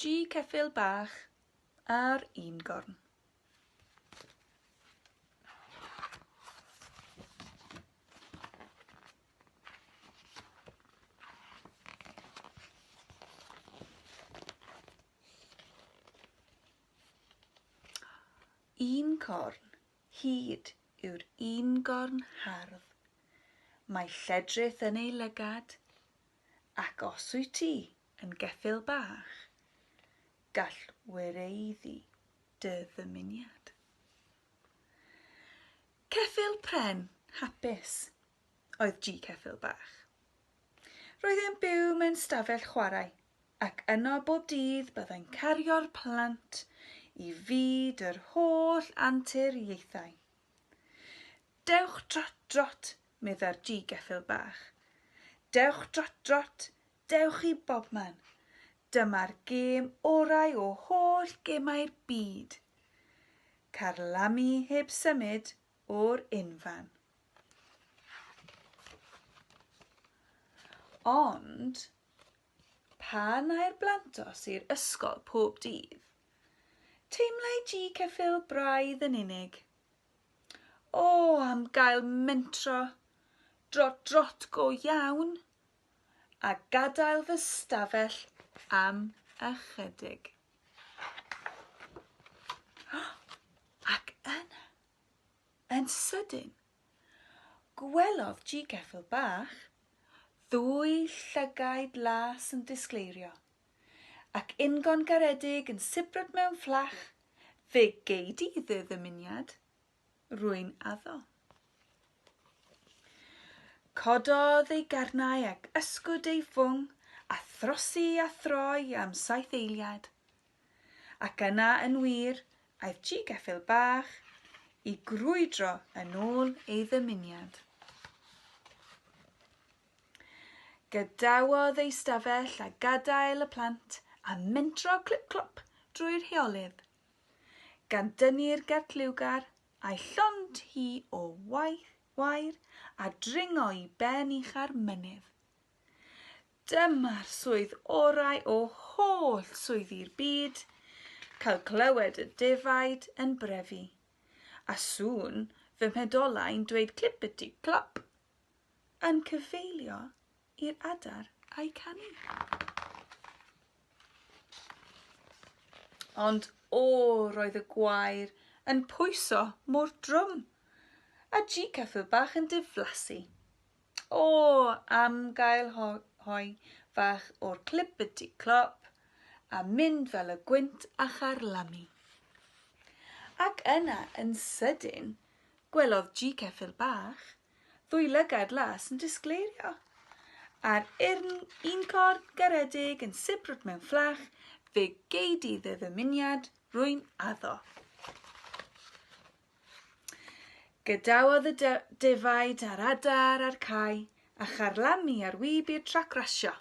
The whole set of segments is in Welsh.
G ceffyl bach ar un gorn. un corn. hyd yw'r un gorn hardd. Mae lledrith yn ei lygad, ac os wyt ti yn geffyl bach, gall wireiddi dy ddymuniad. Ceffyl pren hapus oedd G. Ceffyl Bach. Roedd e'n byw mewn stafell chwarae, ac yno bob dydd byddai'n cario'r plant i fyd yr holl anturiaethau. Dewch drot drot, medda'r G. Ceffyl Bach. Dewch drot drot, dewch i bobman. Dyma'r gêm orau o holl gemau'r byd. Carlamu heb symud o'r unfan. Ond, pan ai'r blantos i'r ysgol pob dydd, teimlai G. Ceffyl braidd yn unig. O, am gael mentro, drot drot go iawn, a gadael fy stafell am ychydig. Ac yna, yn sydyn, gwelodd Ji Geffyl Bach ddwy llygaid las yn disgleirio, ac ingon garedig yn sibrwd mewn fflach, Fe gei di dy ddymuniad, rwy'n addo. Cododd ei garnau ac ysgwyd ei fwng, a throsi a throi am saith eiliad, Ac yna yn wir aeth ci geffyl bach i grwydro yn ôl ei ddymuniad. Gadawodd ei stafell a gadael y plant a mentro clip-clop drwy'r rheolydd, gan dynnu'r gertliwgar a'i llond hi o waith wair a dringo i ben ucha'r mynydd. Dyma'r swydd orau o holl swyddi'r byd, cael clywed y defaid yn brefu, a sŵn fy mhedolau'n dweud clippity clop, yn cyfeilio i'r adar a'i canu. Ond o, roedd y gwair yn pwyso mor drwm, a G-Cyffil bach yn diflasu. O! am gael hoi fach o'r clippity clop a mynd fel y gwynt a charlamu. Ac yna, yn sydyn, gwelodd Ji ceffyl bach, ddwy lygad las yn disgleirio, a'r urn un corn garedig yn sibrwd mewn fflach, fe gei di dy ddymuniad, rwy'n addo. Gadawodd y defaid a'r adar a'r cae a charlamu ar wib i'r trac rasio.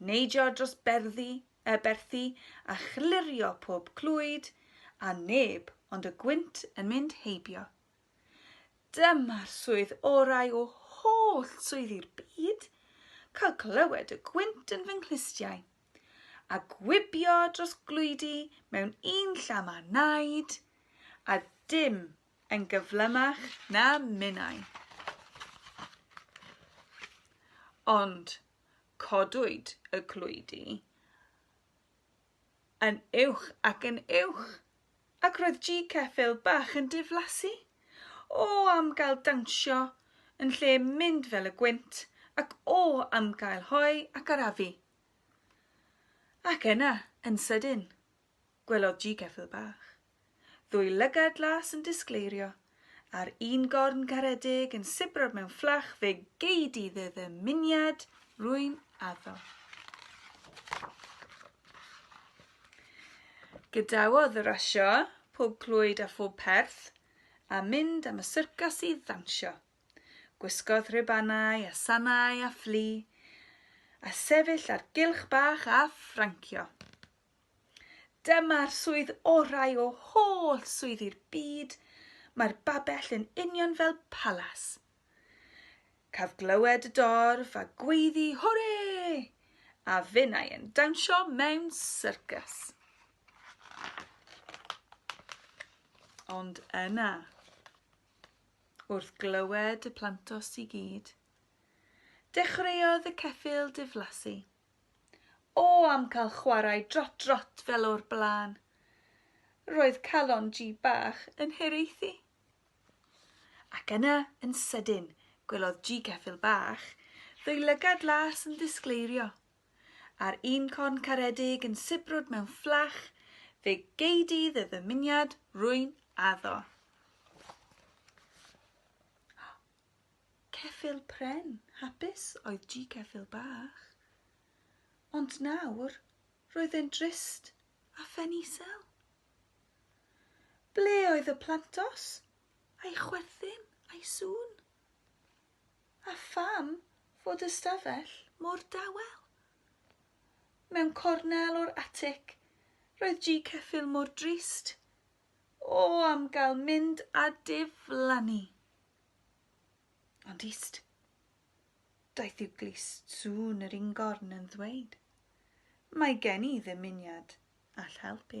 Neidio dros berddi, y berthi a chlirio pob clwyd a neb ond y gwynt yn mynd heibio. Dyma'r swydd orau o holl swyddi'r byd, cael clywed y gwynt yn fy nghlustiau. a gwibio dros glwydi mewn un llam a naid, a dim yn gyflymach na minnau. Ond codwyd y clwydi yn uwch ac yn uwch, ac roedd G Ceffil bach yn diflasu. O am gael dawnsio yn lle mynd fel y gwynt, ac o am gael hoe ac arafu. Ac yna, yn sydyn, gwelodd G-Gefil Bach ddwy lygad las yn disgleirio, a'r un gorn garedig yn sibro mewn fflach fe gei di dy ddymuniad, rwy'n addo. Gadawodd y rasio, pob clwyd a phob perth, a mynd am y syrcas i ddawnsio. Gwisgodd rhubanau a sanau a fflu, a sefyll ar gylch bach a ffrancio. Dyma'r swydd orau o holl swyddi'r byd, mae'r babell yn union fel palas. Caf glywed y dorf a gweiddi hwre! A finnau yn dawnsio mewn syrcas. Ond yna, Wrth glywed y plantos i gyd, dechreuodd y ceffyl diflasu. O, am cael chwarae drot-drot fel o'r blaen! Roedd calon Ji bach yn hiraethu. Ac yna, yn sydyn, gwelodd Ji Ceffyl Bach ddwy lygad las yn disgleirio. A'r un corn caredig yn sibrwd mewn fflach, fe gei di dy ddymuniad, rwy'n addo. Ceffyl pren, hapus oedd G. Ceffyl Bach. Ond nawr, roedd e'n drist a phen isel. Ble oedd y plantos, a'i chwerthin, a'i sŵn? A pham fod y stafell mor dawel? Mewn cornel o'r atic, roedd ji ceffyl mor drist. O, am gael mynd a diflannu! Ond ist. Daeth i'w glust sŵn yr ingorn yn ddweud, Mae gen i ddymuniad all helpu.